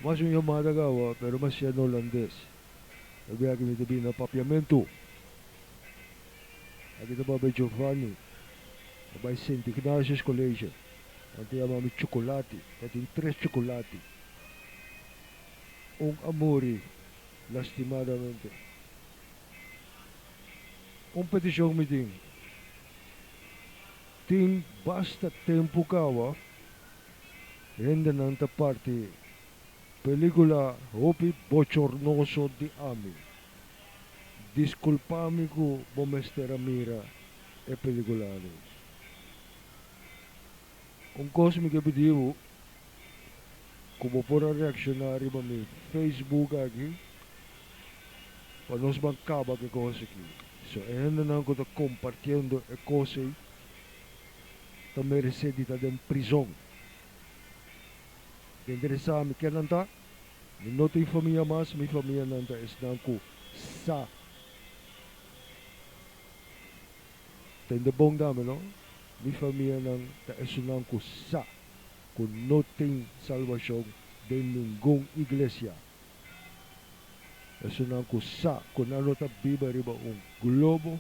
Mas un yamada kawa, pero mas shia na Holandes. E biaha aki mi ta bini na Papiamentu. Aki ta papia Giovanni, ta bai Sint Ignatius College. Nan ta yama mi Chocolati, ta tin tres chocolati. Un a muri, lastimadamente. Un peticion mi tin. Tin basta tempu kawa hendenan ta parti pelikula hopi bochornoso di ami. Diskulpami ku bo mester a mira e pelikula alis. Un kos mi ke pidi bo, ku bo por a reakshoná riba mi Facebook aki pa nos ban kaba ke kos aki. So e hendenan ku ta kompartiendo e kos ei ta meresé di ta den prizon. Ta interesá mi ke nan ta? Mi no tin famia mas, mi famianan ta esnan ku sa tende bon dame, no. Mi famianan ta esunnan ku sa. ku no tin salbashon den ningun iglesia. Esunnan ku sa ku nan no ta biba riba un globo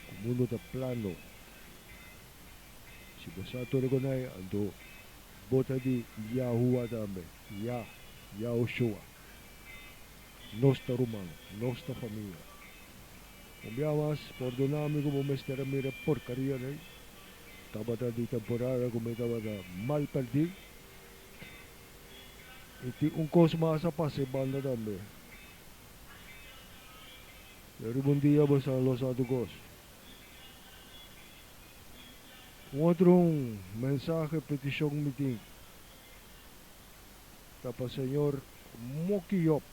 ku mundu ta plano. Si bo sa tur e konai, anto bo ta di Yahuwa tambe, Yah, Yahushua. Nos ta ruman, nos ta famia. Un bia mas, pòrdoná mi ku bo mester a mira e porkaria dei. Tabata di temporada ku mi tabata mal pèrdí. I tin un kos mas a pasa e banda tambe. Lo riba un dia bo sa lo sa tu kos. Un otro mensahe, petishon mi tin ta pa señor Moki Yòp.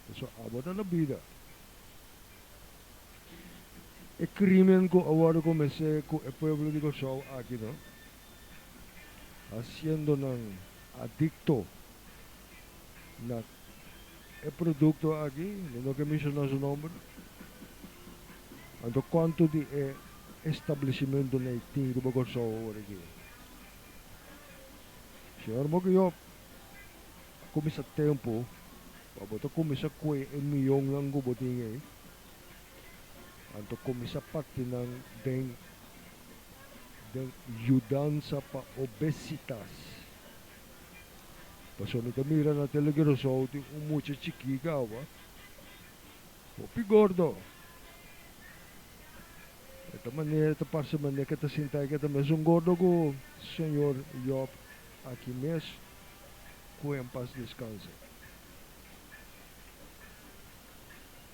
Pasobra abo ta na bida. E crimen cu a wordo comece cu e pueblo di Curaçao aki no, haciendo nan adicto na e producto aki, mi no ke menciona su nomber, anto cuanto di e establecimento na e tin riba Curaçao aworaki. Señor Moke Job. Ta cuminsa tempo pa bo ta cuminsa cue e mionnan cu bo tin ey. Anto cuminsa parti nan den den yudansa pa obesitas. Pasobra mi ta mira na tele di Rosou tin un mucha chikit awa hopi gordo. E ta manera ta parce manera ke ta sinta ey ke ta mes un gordo cu señor Job aki mes. ku en pas deskansa.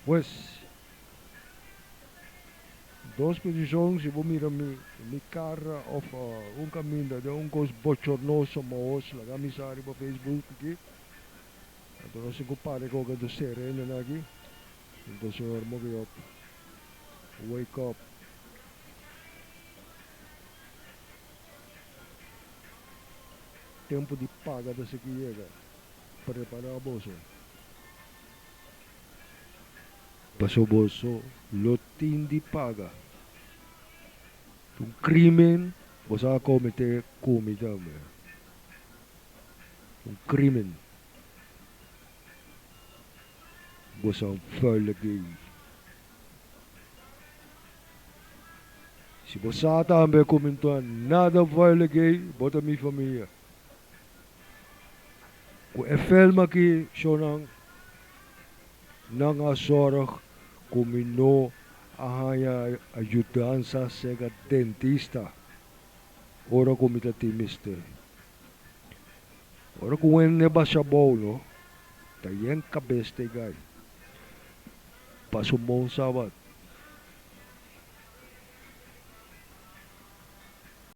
Pues, dos posishon, si bo mira mi, mi kara òf un kaminda den un kos bochornoso maos laga mi sa riba Facebook aki. Anto nos tin ku pare ku oka dos serendenan aki. Anto Señor, moke òp. Wake up. Tempu di paga ta seki yega. Prepará boso. Paso boso lo tin di paga. Ta un crimen boso a comete cu mi tambe. Un crimen. Bosonan vuil gay. Si bo sa tambe ku mi ta nada vuele gei, bo ta mi famia. Ku e film aki shownan, nan a zorg ku mi no a haña ayudansa sega dentista ora ku mi ta tin mester. Ora ku Wende basha bou no, ta yen kabes te gai. Pa su mon Sabat.